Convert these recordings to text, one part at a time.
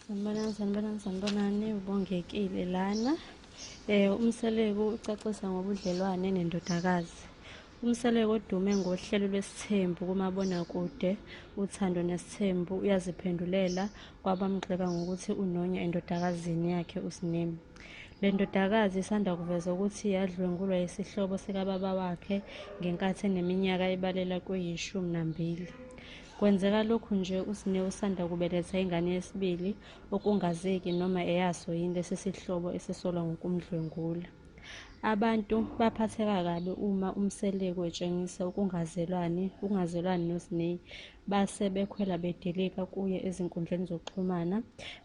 sanibonani sanibonani sanibonani ubongekile lana um umseleku ucacisa ngobudlelwane nendodakazi umseleku odume ngohlelo lwesithembu kumabonakude uthando nesithembu uyaziphendulela kwabamgxeka ngokuthi unonya endodakazini yakhe usinemi le ndodakazi isanda kuveza ukuthi yadlwengulwa yisihlobo sikababa wakhe ngenkathi eneminyaka ebalela kweyishumi nambili Kwenzeka lokhu nje uSne usanda kubeletha ingane yesibili okungazeki noma eyaso yini lesi sihlobo esisolwa ngokumdlwengula. Abantu baphatheka kabi uma uMseleku etshengisa ukungazelwani ukungazelwani noSne base bekhwela bedilika kuye ezinkundleni zokuxhumana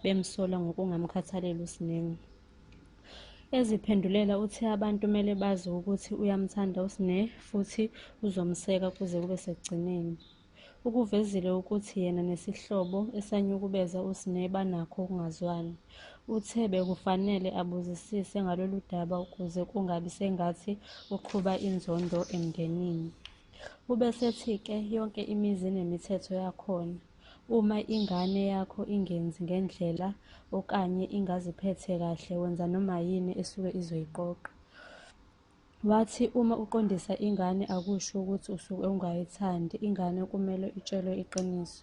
bemsola ngokungamkhathaleli uSne. Eziphendulela uthe abantu kumele bazi ukuthi uyamthanda uSne futhi uzomseka kuze kube sekugcineni. Ukuvezile ukuthi yena nesihlobo esanyukubeza uSne banakho ukungazwani. Uthe bekufanele abuzisise ngalolu daba ukuze kungabi sengathi uqhuba inzondo emndenini. Ubesethi-ke yonke imizi inemithetho yakhona. Uma ingane yakho ingenzi ngendlela okanye ingaziphethe kahle wenza noma yini esuke izoyiqoqa. Wathi uma uqondisa ingane akusho ukuthi usuke ungayithandi ingane kumele itshelwe iqiniso.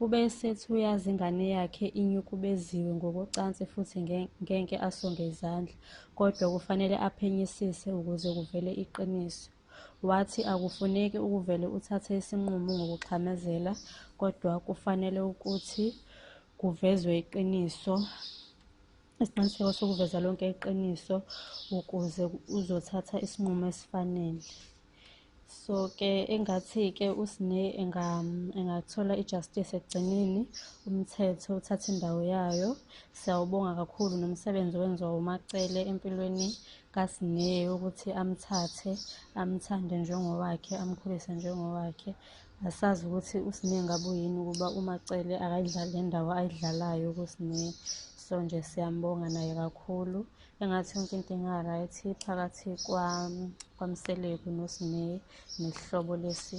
Ube esethi uyazi ingane yakhe inyukubeziwe ngokocansi futhi ngeke asonge izandla, kodwa kufanele aphenyisise ukuze kuvele iqiniso. Wathi akufuneki ukuvele uthathe isinqumo ngokuxhamazela kodwa kufanele ukuthi kuvezwe iqiniso isiqiniseko sokuveza lonke iqiniso ukuze uzothatha isinqumo esifanele so ke engathi-ke usine engathola i-justice ekugcineni umthetho uthatha indawo yayo siyawubonga kakhulu nomsebenzi owenziwa umacele empilweni kaSiney ukuthi amthathe amthande njengowakhe amkhulise njengowakhe asazi ukuthi uSiney ngabe uyini ukuba uMacele akayidlali le ndawo ayidlalayo kuSiney so nje siyambonga naye kakhulu engathi yonke into inga-right phakathi kwamseleku noSiney nesihlobo lesi